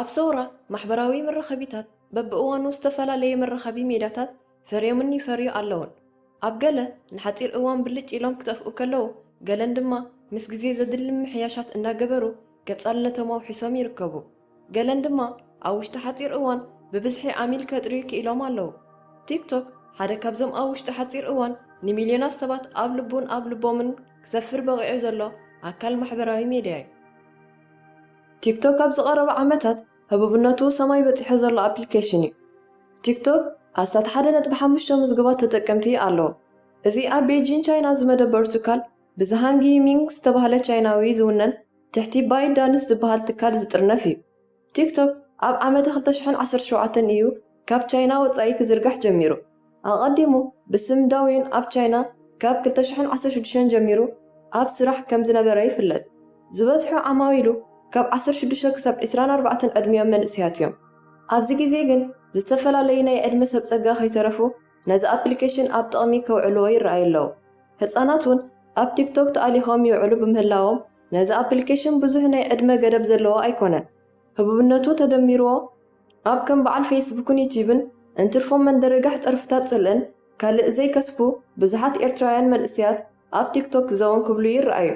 ኣብ ሰውራ ማሕበራዊ መራኸቢታት በብእዋኑ ዝተፈላለየ መራኸቢ ሜዳታት ፈርዮምን ይፈርዩ ኣለውን። ኣብ ገለ ንሓጺር እዋን ብልጭ ኢሎም ክጠፍኡ ከለዉ ገለን ድማ ምስ ግዜ ዘድሊ ምምሕያሻት እንዳገበሩ ገጻልነቶም ኣውሒሶም ይርከቡ። ገለን ድማ ኣብ ውሽጢ ሓጺር እዋን ብብዝሒ ዓሚል ከጥርዩ ክኢሎም ኣለዉ። ቲክቶክ ሓደ ካብዞም ኣብ ውሽጢ ሓጺር እዋን ንሚልዮናት ሰባት ኣብ ልቡን ኣብ ልቦምን ክሰፍር በቒዑ ዘሎ ኣካል ማሕበራዊ ሜድያ'ዩ። ቲክቶክ ኣብዚ ቀረባ ዓመታት ህቡብነቱ ሰማይ በጺሑ ዘሎ ኣፕሊኬሽን'ዩ። ቲክቶክ ኣስታት ሓደ ነጥቢ ሓሙሽተ ምዝጉባት ተጠቀምቲ ኣለዎ። እዚ ኣብ ቤይጂን ቻይና ዝመደበሩ ትካል ብዝሃንግ ይሚንግ ዝተባህለ ቻይናዊ ዝውነን ትሕቲ ባይት ዳንስ ዝበሃል ትካል ዝጥርነፍ'ዩ። ቲክቶክ ኣብ ዓመተ ክልተ ሽሕን ዓሰርተ ሸውዓተን እዩ ካብ ቻይና ወጻኢ ክዝርጋሕ ጀሚሩ። ኣቐዲሙ ብስም ዳውዩን ኣብ ቻይና ካብ ክልተ ሽሕን ዓሰርተ ሽዱሽተን ጀሚሩ ኣብ ስራሕ ከም ዝነበረ ይፍለጥ። ዝበዝሑ ዓማዊሉ ካብ ዓሰርተ ሽዱሽተ ክሳብ ዕስራን ኣርባዕተን ዕድሚኦም መንእሰያት እዮም። ኣብዚ ግዜ ግን ዝተፈላለዩ ናይ ዕድመ ሰብ ጸጋ ከይተረፉ ነዚ ኣፕሊኬሽን ኣብ ጥቕሚ ከውዕልዎ ይረኣዩ ኣለዉ። ህጻናት እውን ኣብ ቲክቶክ ተኣሊኾም ይውዕሉ ብምህላዎም ነዚ ኣፕሊኬሽን ብዙሕ ናይ ዕድመ ገደብ ዘለዎ ኣይኮነን። ህቡብነቱ ተደሚርዎ ኣብ ከም በዓል ፌይስቡክን ዩትዩብን እንትርፎም መንደርጋሕ ጸርፍታት ጽልእን ካልእ ዘይከስቡ ብዙሓት ኤርትራውያን መንእሰያት ኣብ ቲክቶክ ዘውን ክብሉ ይርኣዩ።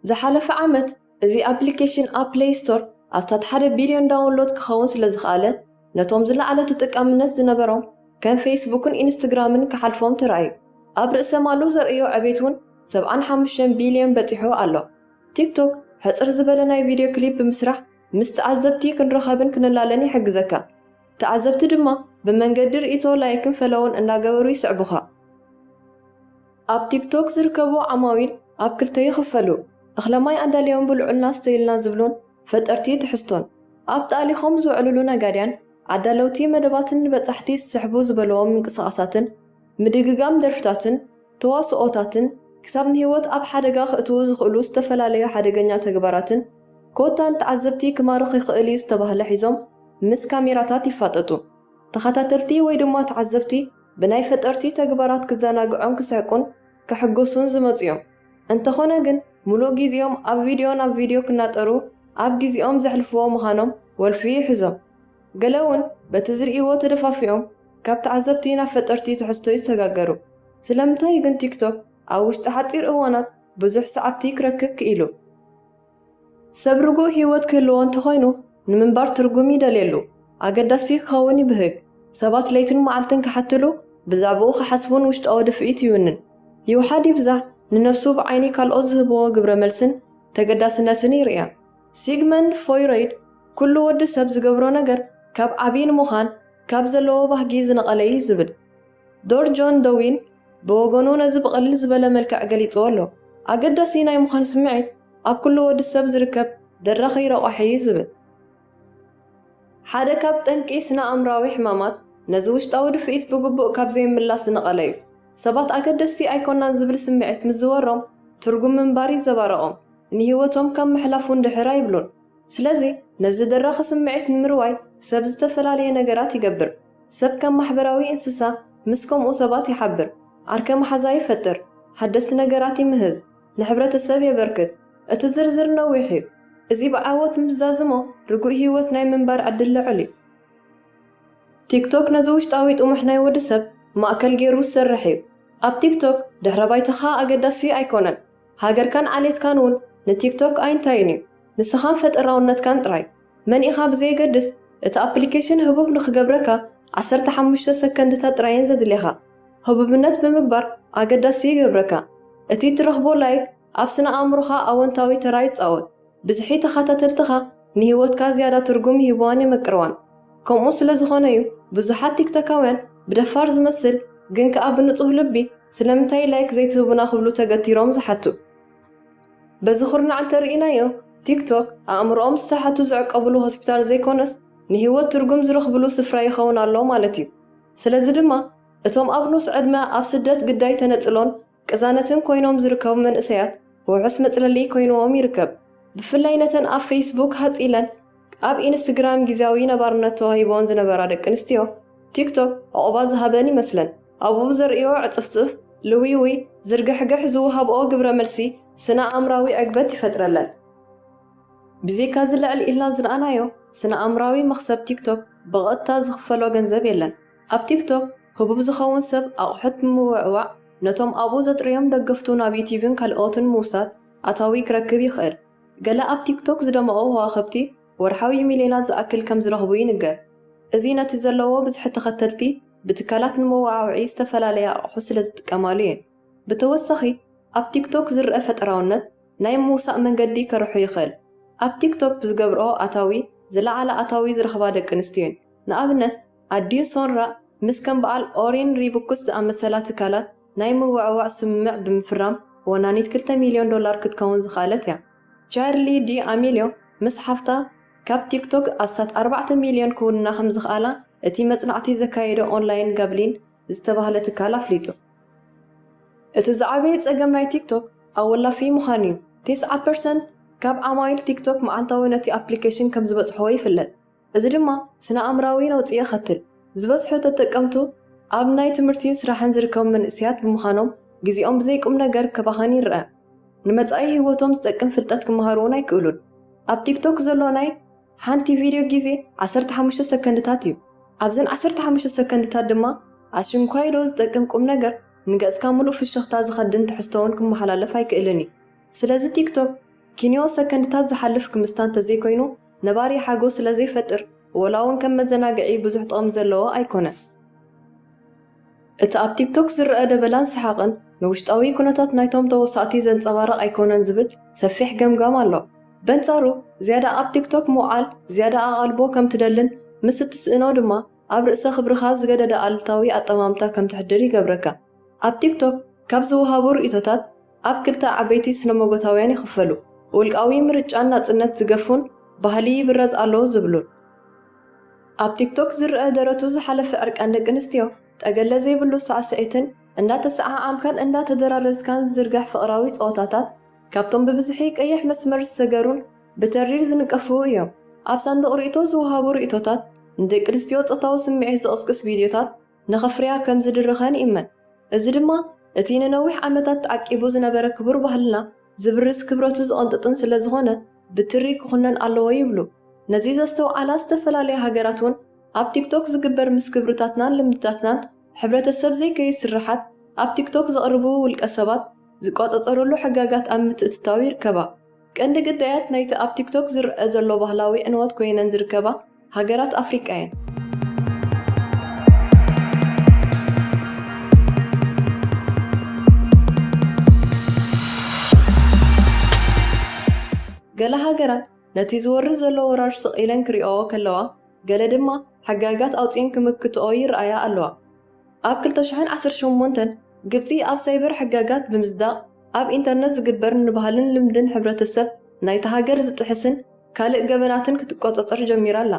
ዝሓለፈ ዓመት እዚ ኣፕሊኬሽን ኣብ ፕሌይ ስቶር ኣስታት ሓደ ቢልዮን ዳውንሎድ ክኸውን ስለዝኸኣለ፣ ነቶም ዝለዓለ ተጠቃምነት ዝነበሮም ከም ፌስቡክን ኢንስትግራምን ክሓልፎም ተራእዩ። ኣብ ርእሰ ማሉ ዘርእዮ ዕቤት እውን ሰብዓን ሓሙሽተን ቢልዮን በጺሑ ኣሎ። ቲክቶክ ሕጽር ዝበለ ናይ ቪድዮ ክሊፕ ብምስራሕ ምስ ተዓዘብቲ ክንራኸብን ክንላለን ይሕግዘካ። ተዓዘብቲ ድማ ብመንገዲ ርእይቶ፣ ላይክን ፈለውን እናገበሩ ይስዕቡኻ። ኣብ ቲክቶክ ዝርከቡ ዓማዊል ኣብ ክልተ ይኽፈሉ፣ እኽለ ማይ ኣዳልዮም ብልዑልና ስተዩልና ዝብሉን ፈጠርቲ ትሕዝቶን ኣብ ተኣሊኾም ዝውዕልሉ ነጋድያን ኣዳለውቲ መደባትን ንበጻሕቲ ዝስሕቡ ዝበልዎም ምንቅስቓሳትን ምድግጋም ደርፍታትን ተዋስኦታትን ክሳብ ንህይወት ኣብ ሓደጋ ከእትዉ ዝኽእሉ ዝተፈላለዩ ሓደገኛ ተግባራትን ኮታ ንተዓዘብቲ ክማርኽ ይኽእል እዩ ዝተባህለ ሒዞም ምስ ካሜራታት ይፋጠጡ። ተኸታተልቲ ወይ ድማ ተዓዘብቲ ብናይ ፈጠርቲ ተግባራት ክዘናግዑን ክስሕቁን ክሕጎሱን ዝመጹ እዮም። እንተኾነ ግን ሙሉእ ጊዚኦም ኣብ ቪድዮ ናብ ቪድዮ ክናጠሩ ኣብ ጊዚኦም ዘሕልፍዎ ምኻኖም ወልፊ ይሕዞም። ገለ ውን በቲ ዝርእይዎ ተደፋፊኦም ካብ ተዓዘብቲ ናብ ፈጠርቲ ትሕዝቶ ይሰጋገሩ። ስለምንታይ'ዩ ግን ቲክቶክ ኣብ ውሽጢ ሓጺር እዋናት ብዙሕ ሰዓብቲ ክረክብ ክኢሉ? ሰብ ርጉእ ህይወት ክህልዎ እንተኾይኑ ንምንባር ትርጉም ይደልየሉ፣ ኣገዳሲ ክኸውን ይብህግ፣ ሰባት ለይትን መዓልትን ክሓትሉ፣ ብዛዕባኡ ክሓስቡን ውሽጣዊ ድፍኢት ይውንን። ይውሓድ ይብዛሕ ንነፍሱ ብዓይኒ ካልኦት ዝህብዎ ግብረ መልስን ተገዳስነትን ይርእያ። ሲግመንድ ፎይረይድ ኩሉ ወዲ ሰብ ዝገብሮ ነገር ካብ ዓብዪ ንምዃን ካብ ዘለዎ ባህጊ ዝነቐለ'ዩ ዝብል። ዶር ጆን ደዊን ብወገኑ ነዚ ብቕልል ዝበለ መልክዕ ገሊጽዎ ኣሎ፣ ኣገዳሲ ናይ ምዃን ስምዒት ኣብ ኩሉ ወዲ ሰብ ዝርከብ ደራኺ ረቋሒ እዩ ዝብል። ሓደ ካብ ጠንቂ ስነ-ኣእምሮኣዊ ሕማማት ነዚ ውሽጣዊ ድፍኢት ብግቡእ ካብ ዘይምላስ ዝነቐለ እዩ። ሰባት ኣገደስቲ ኣይኮናን ዝብል ስምዒት ምስ ዝወሮም ትርጉም ምንባር ይዘባረቖም፣ ንህይወቶም ካብ ምሕላፍ እውን ድሕር ኣይብሉን። ስለዚ ነዚ ደራኺ ስምዒት ንምርዋይ ሰብ ዝተፈላለየ ነገራት ይገብር። ሰብ ከም ማሕበራዊ እንስሳ ምስ ከምኡ ሰባት ይሓብር፣ ዓርከ መሓዛ ይፈጥር፣ ሓደስቲ ነገራት ይምህዝ፣ ንሕብረተሰብ የበርክት፣ እቲ ዝርዝር ነዊሕ እዩ። እዚ ብዓወት ምስ ዛዝሞ ርጉእ ህይወት ናይ ምንባር ዕድል ልዑል እዩ። ቲክቶክ ነዚ ውሽጣዊ ጥሙሕ ናይ ወዲ ሰብ ማእከል ጌሩ ዝሰርሕ እዩ። ኣብ ቲክቶክ ድሕረ ባይታኻ ኣገዳሲ ኣይኮነን። ሃገርካን ዓሌትካን እውን ንቲክቶክ ኣይንታዩን እዩ፣ ንስኻን ፈጠራውነትካን ጥራይ። መን ኢኻ ብዘየገድስ፣ እቲ ኣፕሊኬሽን ህቡብ ንኽገብረካ ዓሰርተ ሓሙሽተ ሰከንድታት ጥራይ እየን ዘድልያኻ። ህቡብነት ብምግባር ኣገዳሲ ይገብረካ። እቲ እትረኽቦ ላይክ ኣብ ስነ-ኣእምሮኻ ኣወንታዊ ተራ ይጻወት። ብዝሒ ተኸታተልትኻ ንህይወትካ ዝያዳ ትርጉም ይህብዋን የመቅርዋን። ከምኡ ስለ ዝኾነ'ዩ ብዙሓት ቲክቶካውያን ብደፋር ዝመስል ግን ከኣ ብንጹህ ልቢ ስለምንታይ ላይክ ዘይትህቡና ክብሉ ተገቲሮም ዝሓቱ። በዚ ኩርናዕ እንተርኢናዮ ቲክቶክ ኣእምሮኦም ዝተሓቱ ዝዕቀብሉ ሆስፒታል ዘይኮነስ ንህይወት ትርጉም ዝረኽብሉ ስፍራ ይኸውን ኣሎ ማለት እዩ። ስለዚ ድማ እቶም ኣብ ንኡስ ዕድመ ኣብ ስደት ግዳይ ተነጽሎን ቅዛነትን ኮይኖም ዝርከቡ መንእሰያት ውሑስ መጽለሊ ኮይንዎም ይርከብ። ብፍላይ ነተን ኣብ ፌይስቡክ ሃጽ ኢለን ኣብ ኢንስትግራም ጊዚያዊ ነባርነት ተዋሂቦን ዝነበራ ደቂ ኣንስትዮ፣ ቲክቶክ ዑቕባ ዝሃበን ይመስለን። ኣብኡ ብዘርእይኦ ዕጽፍጽፍ፣ ልውይውይ፣ ዝርግሕግሕ ዝወሃብኦ ግብረ መልሲ ስነ-ኣእምራዊ ዕግበት ይፈጥረለን። ብዘይካዚ ልዕል ኢልና ዝረኣናዮ ስነ-ኣእምራዊ መኽሰብ ቲክቶክ ብቐጥታ ዝኽፈሎ ገንዘብ የለን። ኣብ ቲክቶክ ህቡብ ዝኸውን ሰብ ኣቑሑት ብምውዕዋዕ ነቶም ኣብኡ ዘጥርዮም ደገፍቱ ናብ ዩትዩብን ካልኦትን ምውሳድ ኣታዊ ክረክብ ይኽእል። ገለ ኣብ ቲክቶክ ዝደመቑ ከዋኽብቲ ወርሓዊ ሚልዮናት ዝኣክል ከም ዝረኽቡ ይንገር። እዚ ነቲ ዘለዎ ብዝሒ ተኸተልቲ ብትካላት ንመወዓውዒ ዝተፈላለየ ኣቕሑ ስለ ዝጥቀማሉ እየን። ብተወሳኺ ኣብ ቲክቶክ ዝርኣ ፈጠራውነት ናይ ምውሳእ መንገዲ ከርሑ ይኽእል። ኣብ ቲክቶክ ብዝገብርኦ ኣታዊ ዝለዓለ ኣታዊ ዝረኽባ ደቂ ኣንስትዮ እየን። ንኣብነት ኣዲን ሶንራ ምስ ከም በዓል ኦሪን ሪብኩስ ዝኣመሰላ ትካላት ናይ ምውዕዋዕ ስምምዕ ብምፍራም ወናኒት ክልተ ሚልዮን ዶላር ክትከውን ዝኸኣለት እያ። ቻርሊ ዲኣሚልዮ ምስ ሓፍታ ካብ ቲክቶክ ኣስታት ኣርባዕተ ሚልዮን ክውንና ከምዝኸኣላ እቲ መጽናዕቲ ዘካየዶ ኦንላይን ጋብሊን ዝተባህለ ትካል ኣፍሊጡ። እቲ ዝዓበየ ጸገም ናይ ቲክቶክ ኣወላፊ ምዃኑ'ዩ። ቴስዓ ፐርሰንት ካብ ዓማዊል ቲክቶክ መዓልታዊ ነቲ ኣፕሊኬሽን ከምዝበጽሕዎ ይፍለጥ። እዚ ድማ ስነ-ኣእምራዊ ነውጺ የኸትል። ዝበዝሑ ተጠቀምቱ ኣብ ናይ ትምህርቲን ስራሕን ዝርከቡ መንእሰያት ብምዃኖም ግዜኦም ብዘይ ቁምነገር ክባኸን ይረኣ። ንመጻኢ ህይወቶም ዝጠቅም ፍልጠት ክመሃሩ'ውን ኣይክእሉን። ኣብ ቲክቶክ ዘሎ ናይ ሓንቲ ቪድዮ ግዜ ዓሰርተ ሓሙሽተ ሰከንድታት እዩ። ኣብዘን ዓሰርተ ሓሙሽተ ሰከንድታት ድማ ኣሽንኳይ'ዶ ዝጠቅም ቁምነገር፣ ንገጽካ ምሉእ ፍሽኽታ ዝኸድን ትሕዝቶ'ውን ክመሓላለፍ ኣይክእልን እዩ። ስለዚ ቲክቶክ ኪንዮ ሰከንድታት ዝሓልፍ ክምስታ እንተዘይኮይኑ ነባሪ ሓጎስ ስለዘይፈጥር ወላ'ውን ከም መዘናግዒ ብዙሕ ጥቕሚ ዘለዎ ኣይኮነን። እቲ ኣብ ቲክቶክ ዝረኣ ደበላን ሰሓቕን ንውሽጣዊ ኩነታት ናይቶም ተወሳእቲ ዘንጸባርቕ ኣይኮነን ዝብል ሰፊሕ ገምጋም ኣሎ። በንጻሩ ዝያዳ ኣብ ቲክቶክ ምውዓል ዝያዳ ኣቓልቦ ከም ትደልን ምስ እትስእኖ ድማ ኣብ ርእሰ ክብርኻ ዝገደደ ኣሉታዊ ኣጠማምታ ከም ተሕድር ይገብረካ። ኣብ ቲክቶክ ካብ ዝወሃቡ ርእይቶታት፣ ኣብ ክልተ ዓበይቲ ስነ-ሞጎታውያን ይኽፈሉ፣ ውልቃዊ ምርጫን ናጽነት ዝገፉን ባህሊ ይብረዝ ኣሎ ዝብሉን። ኣብ ቲክቶክ ዝረኣ ደረቱ ዝሓለፈ ዕርቃን ደቂ ኣንስትዮ፣ ጠገለ ዘይብሉ ሳዕስዒትን እንዳተሰዓዓምካን እንዳተደራረዝካን ዝዝርጋሕ ፍቕራዊ ጸወታታት ካብቶም ብብዝሒ ቀይሕ መስመር ዝሰገሩን ብተሪር ዝንቀፉ እዮም። ኣብ ሳንዱቕ ርእይቶ ዝወሃቡ ርእይቶታት ንደቂ ኣንስትዮ ጾታዊ ስምዒት ዝቕስቅስ ቪድዮታት፣ ንኽፍርያ ከም ዝድርኸን ይእመን። እዚ ድማ እቲ ንነዊሕ ዓመታት ተዓቂቡ ዝነበረ ክቡር ባህልና ዝብርዝ ክብረቱ ዝቕንጥጥን ስለ ዝኾነ ብትሪ ክኹነን ኣለዎ ይብሉ። ነዚ ዘስተውዓላ ዝተፈላለያ ሃገራት እውን ኣብ ቲክቶክ ዝግበር ምስ ክብርታትናን ልምድታትናን ሕብረተሰብ ዘይከይድ ስርሓት ኣብ ቲክቶክ ዘቕርቡ ውልቀሰባት ዝቆጸጸርሉ ሕጋጋት ኣብ ምትእትታው ይርከባ። ቀንዲ ግዳያት ናይቲ ኣብ ቲክቶክ ዝርኣ ዘሎ ባህላዊ ዕንወት ኮይነን ዝርከባ ሃገራት ኣፍሪቃ እየን። ገለ ሃገራት ነቲ ዝወርድ ዘሎ ወራር ስቕ ኢለን ክሪኦኦ ከለዋ፣ ገለ ድማ ሕጋጋት ኣውጺኤን ክምክትኦ ይርኣያ ኣለዋ። ኣብ ክልተ ሽሕን ዓሰርተ ሸሞንተን፣ ግብጺ ኣብ ሳይበር ሕጋጋት ብምጽዳቕ፣ ኣብ ኢንተርነት ዝግበር ንባህልን ልምድን ሕብረተሰብ ናይታ ሃገር ዝጥሕስን ካልእ ገበናትን ክትቆጸጸር ጀሚራ ኣላ።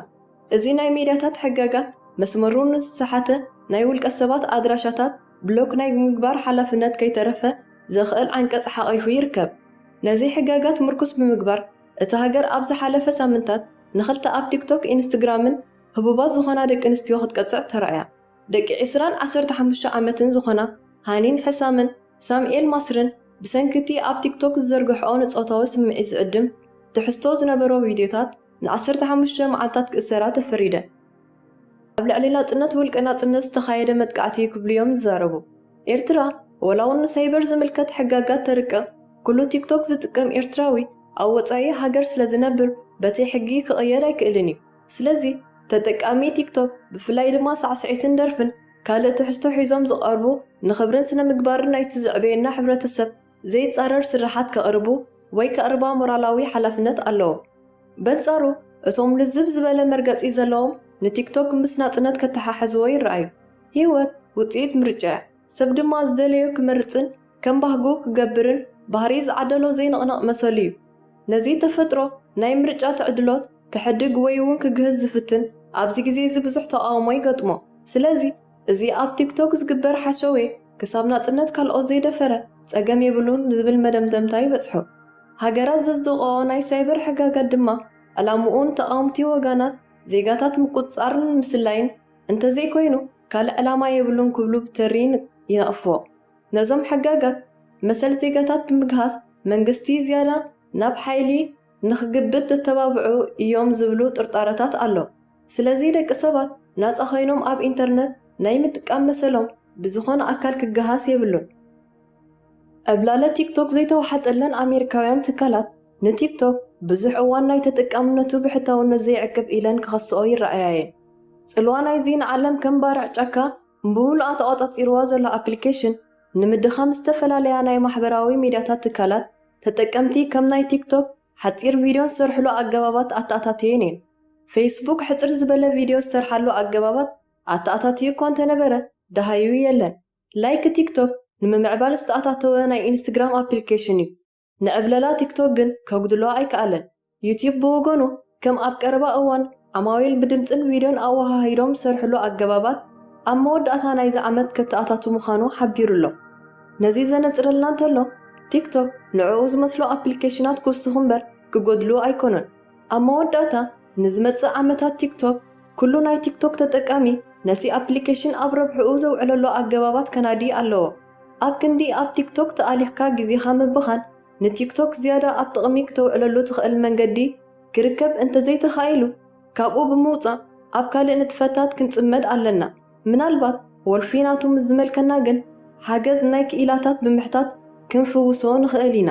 እዚ ናይ ሜድያታት ሕጋጋት መስመሩ ንዝሰሓተ ናይ ውልቀ ሰባት ኣድራሻታት ብሎክ ናይ ምግባር ሓላፍነት ከይተረፈ ዘኽእል ዓንቀጽ ሓቚፉ ይርከብ። ነዚ ሕጋጋት ምርኩስ ብምግባር፣ እታ ሃገር ኣብ ዝሓለፈ ሳምንታት ንኽልተ ኣብ ቲክቶክ፣ ኢንስትግራምን፣ ህቡባት ዝኾና ደቂ ኣንስትዮ ክትቀጽዕ ተራእያ። ደቂ ዕስራን ዓሰርተ ሓሙሽተ ዓመትን ዝኾና ሃኒን ሕሳምን ሳምኤል ማስርን ብሰንኪ'ቲ ኣብ ቲክቶክ ዝዘርግሕኦ ንጾታዊ ስምዒት ዝዕድም ትሕዝቶ ዝነበሮ ቪድዮታት ንዓሰርተ ሓሙሽተ መዓልታት ክእሰራ ተፈሪደን። ኣብ ልዕሊ ናጽነት ውልቀ ናጽነት ዝተኻየደ መጥቃዕቲ'ዩ ክብሉ'ዮም ዝዛረቡ። ኤርትራ ወላ'ውን ንሳይበር ዝምልከት ሕጋጋት ተርቅቕ፣ ኩሉ ቲክቶክ ዝጥቀም ኤርትራዊ ኣብ ወጻኢ ሃገር ስለዝነብር በቲ ሕጊ ክቕየድ ኣይክእልን'ዩ። ስለዚ ተጠቃሚ ቲክቶክ ብፍላይ ድማ ሳዕስዒትን ደርፍን ካልእ ትሕዝቶ ሒዞም ዝቐርቡ ንኽብርን ስነምግባርን ናይቲ ዘዕበየና ሕብረተሰብ ዘይጻረር ስርሓት ከቕርቡ ወይ ከቕርባ ሞራላዊ ሓላፍነት ኣለዎም። በንጻሩ እቶም ልዝብ ዝበለ መርገጺ ዘለዎም ንቲክቶክ ምስ ናጽነት ከተሓሕዝዎ ይረኣዩ። ህይወት ውጽኢት ምርጫ'ያ። ሰብ ድማ ዝደለዮ ክመርጽን ከም ባህጉ ክገብርን ባህርይ ዝዓደሎ ዘይንቕነቕ መሰሉ እዩ። ነዚ ተፈጥሮ ናይ ምርጫ ትዕድሎት ክሕድግ ወይ'ውን ክግህስ ዝፍትን ኣብዚ ግዜ'ዚ ብዙሕ ተቓውሞ ይገጥሞ። ስለዚ እዚ ኣብ ቲክቶክ ዝግበር ሓሸውየ ክሳብ ናጽነት ካልኦት ዘይደፈረ ጸገም የብሉን ዝብል መደምደምታ ይበጽሑ። ሃገራት ዘጽድቐኦ ናይ ሳይበር ሕጋጋት ድማ ዕላምኡ ንተቓውምቲ ወጋናት ዜጋታት ምቁጽጻርን ምስላይን እንተዘይኮይኑ፣ ካልእ ዕላማ የብሉን ክብሉ ብትሪ ይነቕፍዎ። ነዞም ሕጋጋት መሰል ዜጋታት ብምግሃስ መንግስቲ ዝያዳ ናብ ሓይሊ ንኽግብት ዘተባብዑ እዮም ዝብሉ ጥርጣረታት ኣሎ። ስለዚ ደቂ ሰባት ናጻ ኮይኖም ኣብ ኢንተርነት ናይ ምጥቃም መሰሎም ብዝኾነ ኣካል ክገሃስ የብሉን። ዕብላለ ቲክቶክ ዘይተዋሓጠለን ኣሜሪካውያን ትካላት ንቲክቶክ ብዙሕ እዋን ናይ ተጠቃምነቱ ብሕታውነት ዘይዕቅብ ኢለን ክኸስኦ ይረኣያ'የን። ጽልዋ ናይዚ ንዓለም ከም ባርዕ ጫካ ብምሉኣ ተቖጻጺርዋ ዘሎ ኣፕሊኬሽን፣ ንምድኻም ዝተፈላለያ ናይ ማሕበራዊ ሚድያታት ትካላት፣ ተጠቀምቲ ከም ናይ ቲክቶክ ሓጺር ቪድዮን ዝሰርሕሉ ኣገባባት ኣተኣታትየን እየን። ፈይስቡክ ሕጽር ዝበለ ቪድዮ ዝሰርሓሉ ኣገባባት ኣተኣታትዩ እኳ እንተነበረ፣ ደሃዩ የለን። ላይክ ቲክቶክ ንምምዕባል ዝተኣታተወ ናይ ኢንስትግራም ኣፕሊኬሽን እዩ። ንዕብለላ ቲክቶክ ግን ከጉድሎ ኣይከኣለን። ዩትዩብ ብወገኑ ከም ኣብ ቀረባ እዋን ዓማዊል ብድምጽን ቪድዮን ኣወሃሂዶም ዝሰርሕሉ ኣገባባት ኣብ መወዳእታ ናይዚ ዓመት ከተኣታቱ ምዃኑ ሓቢሩ'ሎ። ነዚ ዘነጽረልና እንተሎ ቲክቶክ ንዕኡ ዝመስሎ ኣፕሊኬሽናት ክውስኹ'ምበር ክጎድሉ ኣይኮኑን። ኣብ መወዳእታ ንዝመጽእ ዓመታት ቲክቶክ ኩሉ ናይ ቲክቶክ ተጠቃሚ ነቲ ኣፕሊኬሽን ኣብ ረብሕኡ ዘውዕለሉ ኣገባባት ከናዲ ኣለዎ። ኣብ ክንዲ ኣብ ቲክቶክ ተኣሊኽካ ግዜኻ ምብኻን፣ ንቲክቶክ ዝያዳ ኣብ ጥቕሚ ክተውዕለሉ ትኽእል መንገዲ ክርከብ እንተዘይተኻኢሉ፣ ካብኡ ብምውጻእ ኣብ ካልእ ንጥፈታት ክንጽመድ ኣለና። ምናልባት ወልፊ ናቱ ምስ ዝመልከና ግን፣ ሓገዝ ናይ ክኢላታት ብምሕታት ክንፍውሶ ንኽእል ኢና።